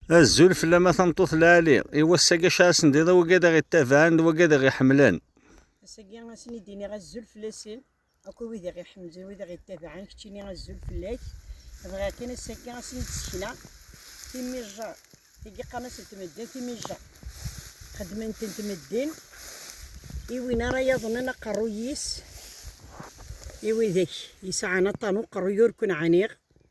Azul fell-am a tameṭṭut lɛali, i wass-agi acu ara sendiḍ a wagi ad aɣ-ittabaɛen d wagi ad aɣ-iḥemmlen. Ass-agi a sen-id-iniɣ azul fell-asen, akk i wid aɣ-iḥemmlen, wid aɣ-ittabaɛen, keččini azul fell-ak. Bɣiɣ kan ass-agi a sen-id-sekneɣ timijjar, tigi qqaren-asen tmeddin timijjar. Xedmen-ten tmeddin, i win ara yaḍnen aqerruy-is, i widak yesɛan aṭan uqerruy ur ken-ɛniɣ,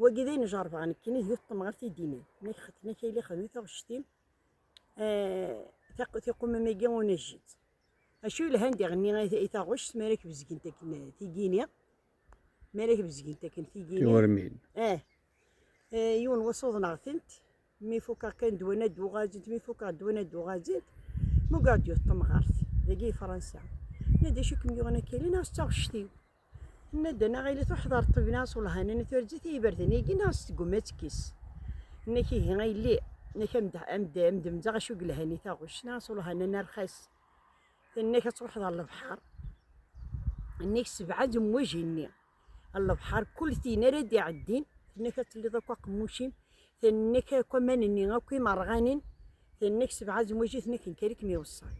Wagi d ayen jerbeɣ nekkini d yuṭṭem ɣer tidini. Nek xetna kayli xedmi taɣect-im eh, tiqumam-agi ur nejjit. Acu yelhan d iɣenni i taɣect mi ara k-bezgent akken eh, tigini. Mi ara k-bezgent akken tigini. Tiwermin. Eh. eh. Yiwen wass uḍneɣ-tent. Mi fukeɣ kan ddwan ad d-uɣazint, mi fukeɣ ddwan ad d-uɣazint, mugaɣ-d yuṭṭem ɣer-t. Dagi i Fransa. Ma d acu kem-yuɣen akili neɣ s taɣect-iw. Nna-d anaɣ ili tuḥḍar ṭibna s ulhanen i turǧit i yiberdan-agi neɣ s tgumma ad tekkis. Nna-k ihi a yelli, nna-k amdemdeɣ acu yelhan i taɣuc neɣ s ulhanen arxas. Tenna-k ad truḥeḍ ɣer lebḥer. Nna-k sebɛed umwaji-nni. Lebḥer kul tin ara d-iɛeddin, tenna-k ad telliḍ akk aqemmuc-im, tenna-k akk aman-nni akk imerɣanin, tenna-k sebɛed umwaji, tenna-k nkarikem iweṣṣan.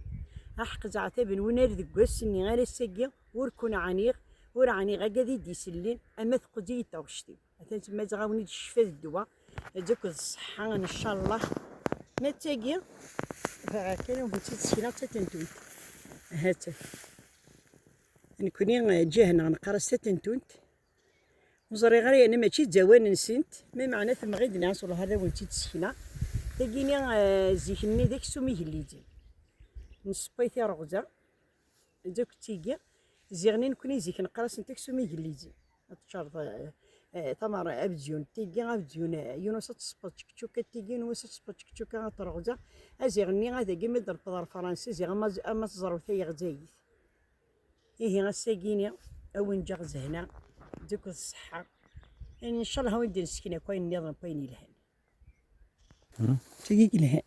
Aḥeq zeɛtab n unar deg wass-nni ara s-agi, Ur kun-ɛaniɣ, ur ɛaniɣ agad i d-isellin, ama teqqez-iyi-d taɣect-iw. Atan temma ttɣawen-id ccfa d ddwa, ad akked ṣṣeḥḥa ncallah. Ma d tagi, bɣiɣ kan ad wen-tt-id-ssekneɣ d tatentunt. Ha-tt-an. Nekni ǧǧiha-nneɣ neqqar-as tatentunt. Ur ẓriɣ ara yerna mačči d awan-nsent, ma meɛna temɣi-d neɣ s lehṛ ad wen-tt-id-ssekneɣ. Tagi-nni, zik-nni d aksum igellijen. Nessewway tireɣza. d akk tigi ziɣni nekni zik neqrasent aksum igellizin ad teččareḍ eh, eh, tamar abziyun tigi abziyun eh, yunus ad tespeḍ tčekčuka tigi yunus ad tespeḍ tčekčuka ad terɣza aziɣ-nni ad agi mi d-rfeḍ ar fransi ziɣ ama teẓrew tayeɣzayit ihi ass-agini awen ǧaɣ zehna dikut ṣṣeḥḥa incallah awen d-nesken akk ayen-nniḍen akk ayen yelhan tigi yelhan